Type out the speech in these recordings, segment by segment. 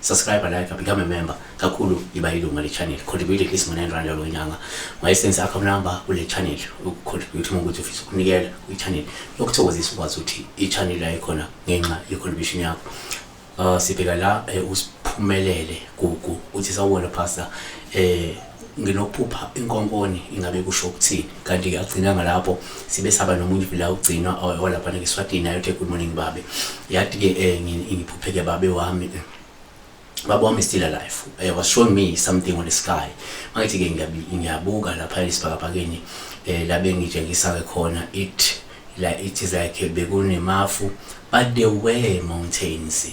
subscribe like become a member kakhulu iba ilunga le channel contribute at least ngo-9 rand yalo nyanga wayesenze account number kule channel ukucontribute uma ukuthi ufisa ukunikela kwi-channel yokuthokozisa ukwazi ukuthi i-channel yayikhona ngenxa ye-contribution yakho uh, sibheka la eh, usiphumelele gugu uthi sawubona pastor eh nginokuphupha inkonkoni ingabe kusho ukuthini kanti ke agcinanga lapho sibe saba nomunye vila ugcinwa olaphana ngeswatini ayothe good morning babe yathi ke eh, ngiphupheke babe wami eh, baba wami still alive eh, was showing me something on the sky mangithi ke ngiyabuka lapha esibhakabhakeni eh, labe ngitshengisa ke khona it like it is like bekunemafu but there were mountains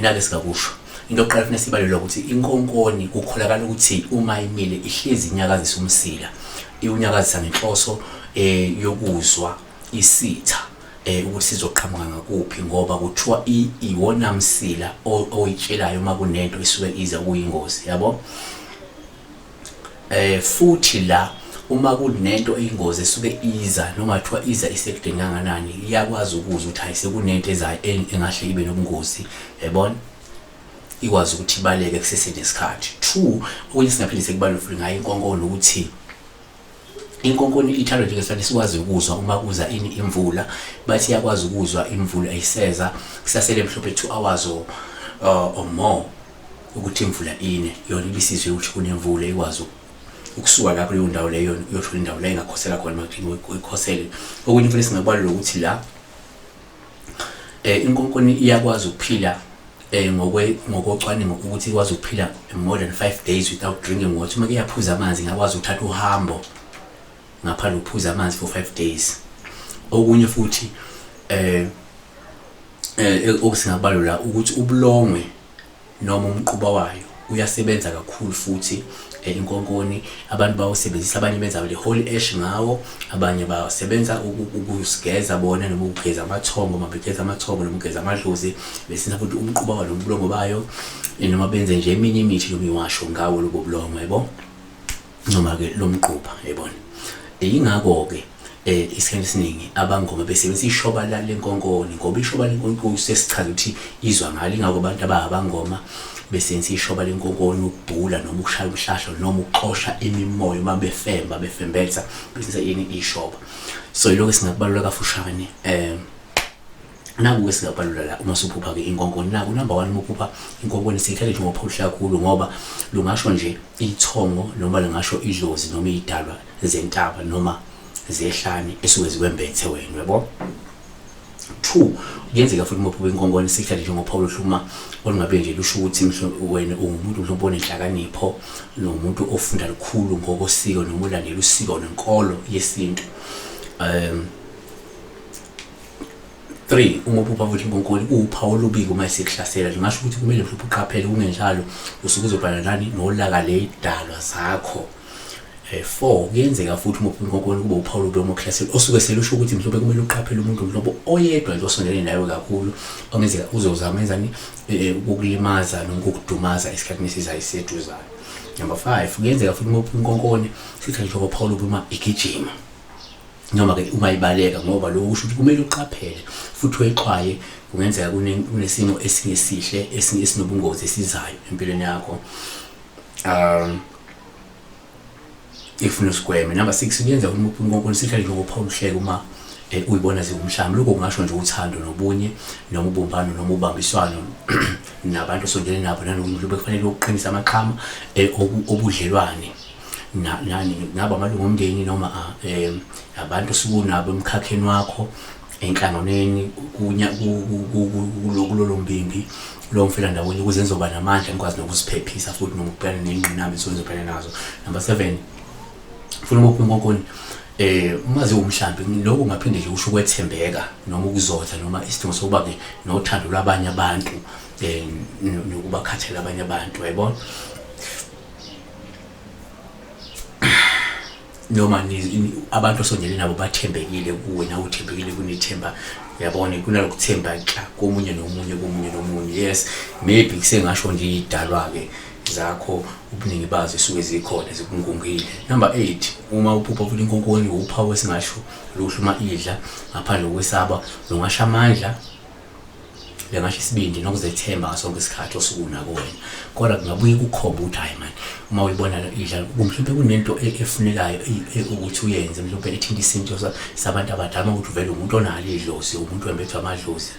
nake singakusho into yokuqala kufanele sibalule ukuthi inkonkoni kukholakala ukuthi uma imile ihlezi inyakazisa umsila iwunyakazisa ngenhloso eh yokuzwa isitha eh ukuthi sizoqhamuka ngakuphi ngoba kuthiwa iwona msila oyitshelayo uma kunento esuke iza kuyingozi yabo Eh futhi la uma kunento eyingozi esuke iza noma kuthiwa iza isekudeni kanganani iyakwazi ukuzwa ukuthi hayi sekunento ezayo engahle ibe nobungozi yabona ikwazi ukuthi ibaleke kusesenesikhathi two okunye singaphinde sekubalule futhi ngayo inkonkono ukuthi Inkonkoni ithanda nje ngesikhathi sikwazi ukuzwa uma kuza ini imvula bathi iyakwazi ukuzwa imvula ayiseza kusasele mhlophe 2 hours or, uh, or more ukuthi imvula ine yona ibisizwe ukuthi kunemvula ikwazi ukusuka lapho kuleyo ndawo leyo uyothola indawo la ingakhosela khona makuthi uyikhosele okunye futhi singabalula ukuthi la eh inkonkoni iyakwazi ukuphila eh ngokwe ngokocwaningo ukuthi ikwazi ukuphila more than 5 days without drinking water uma kuyaphuza amanzi ngakwazi ukuthatha uhambo ngaphandle ukuphuza amanzi for 5 days okunye futhi eh eh okusingabalula ukuthi ubulongwe noma umquba wayo uyasebenza kakhulu futhi eh, inkonkoni abantu bawusebenzisa abanye benza le holy ash ngawo abanye basebenza ukusigeza bona noma ukugeza amathongo uma begeza amathongo noma ugeza amadlozi besenza futhi umquba walo mbulomo bayo eh, noma benze nje eminye imithi noma iwasho ngawo lobo bulomo yebo noma ke lomgqupha yebona yingakho ke eh isikhathi esiningi abangoma besebenzisa ishoba la lenkonkoni ngoba ishoba lenkonkoni sesichaza ukuthi izwa ngalo ingakho abantu abangoma besebenzisa ishoba lenkonkoni ukubhula noma ukushaya umhlahlo noma ukuxosha imimoya uma befemba befembetha besebenzisa ini ishoba so ilokho singakubalula kafushane um nakuke singabalula la uma suphupha ke inkonkoni naku number 1 uma uphupha inkonkoni sikhale nje ngophuhla kakhulu ngoba lungasho nje ithongo noma lingasho idlozi noma idalwa zentaba noma zehlane esuke zikwembethe wena yabo 2 kuyenzeka futhi uma uphupha inkonkoni sikhale nje ngophawu lohluma olungabe nje lusho ukuthi wena ungumuntu mhlawumbe onenhlakanipho nomuntu ofunda lukhulu ngokosiko noma ulandela usiko nenkolo yesintu um 3 uma uphupha ukuthi inkonkoni uwuphawu olubi uma isikuhlasela lingasho ukuthi kumele mhlophe uqaphele kungenjalo usuke uzobhala nani nolaka leyidalwa zakho eh 4 kuyenzeka futhi uma uphupha inkonkoni kube uphawu olubi uma ukuhlasela osuke selusho ukuthi mhlophe kumele uqaphele umuntu mhlophe oyedwa nje osondelene nawe kakhulu ongenzeka uzozama enzani eh, eh, ukukulimaza noma ukukudumaza esikhathini esizayo iseduzayo number 5 kuyenzeka futhi uma uphupha inkonkoni sithathe njengo phawu olubi uma igijima noma ke uma ibaleka ngoba lokho kusho ukuthi kumele uqaphele futhi uyixwaye kungenzeka kunesimo esingesihle esinobungozi esizayo empilweni yakho um ifuna usigweme number 6 kuyenza ukuthi umuntu uNkulunkulu sihlale nje ngophawuluhleke uma eh, uyibona ziwumhlaba lokho kungasho nje uthando nobunye noma ubumbano noma ubambiswano nabantu osondele nabo nanomuntu bekufanele ukuqinisa amaqhama eh, obudlelwane nani ngaba amalungu omndeni noma um abantu sikunabo emkhakheni wakho enhlanganweni kulolo mbimbi lo mfela ndawonye ukuze ngizoba namandla ngikwazi nokuziphephisa futhi nokubhekana ney'ngqinamba esuke ngizobhekana nazo number seven funa ukuphi unkokoni eh uma ziwumhlambi lokho ngaphinde nje usho ukwethembeka noma ukuzotha noma isidingo sokuba ke nothando lwabanye abantu eh nokubakhathela abanye abantu yayibona noma abantu osongene nabo bathembekile kuwe nawe uthembekile kunethemba yabona kunalokuthemba xa komunye nomunye komunye nomunye yes maybe kusengasho nje idalwa-ke zakho ubuningi bazo esuke zikhona zikungungile number 8 uma uphupha futhi inkonkoni uphawu esingasho luhlu uma idla ngaphandle kokwesaba lungasha amandla bengasho isibindi nokuzethemba ngaso sonke isikhathi osukuna kuwena kodwa kungabuye kukhomba ukuthi hayi mani uma uyibona idlala mhlawumbe kunento e-, efunekayo e-, e-, ukuthi uyenze mhlawumbe ethinta isinto sabantu abadala ukuthi uvele umuntu onalo idlozi umuntu wembethwa amadlozi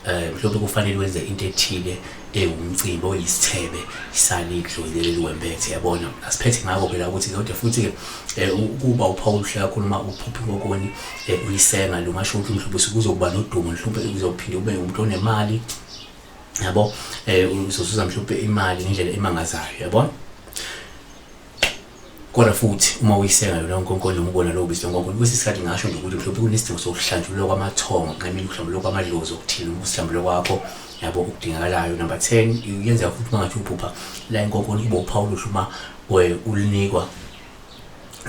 um mhlawumbe kufanele wenze into ethile ewumcimbi oyisithebe isalidlo leli wembethe yabona asiphethe ngako phela ukuthi kodwa futhi ke eh, ukuba uPaul hlela khuluma uphuphi kokoni eh, uyisenga lo ngasho ukuthi mhlawumbe usukuzokuba nodumo mhlawumbe uzophinde ube umuntu onemali yabo eh uzozuza mhlawumbe imali ngendlela emangazayo yabona Kodwa futhi uma uyiseka yona uNkulunkulu nomubona lowo bizwa ngoNkulunkulu kwesinye isikhathi ngasho nje ukuthi mhlawumbe kunesidingo sokuhlanjululwa kwamathongo nqamile ukuhlambululwa kwamadlozi okuthile uma usihlambululwa kwakho yabo okudingakalayo number 10 uyenzeka futhi uma ngathi uphupha la inkonkoni kube uphawu oluhle uma ulinikwa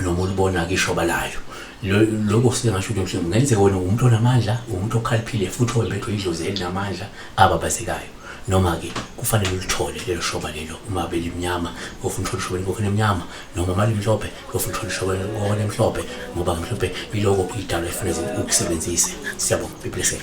noma ulibona kishoba layo lokho singasho ukuthi mhlawumbe kungenzeka wena umuntu onamandla umuntu okhaliphile futhi owembethwe idlozi elinamandla ababazekayo noma-ke kufanele ulithole lelo shoba lelo uma belimnyama kofuna uthole ishobeni kokhona emnyama noma uma limhlophe kofuna uthole ishobeni kokhona emhlophe ngoba mhlophe iloko idalo efanele ukusebenzise siyabonga be blessed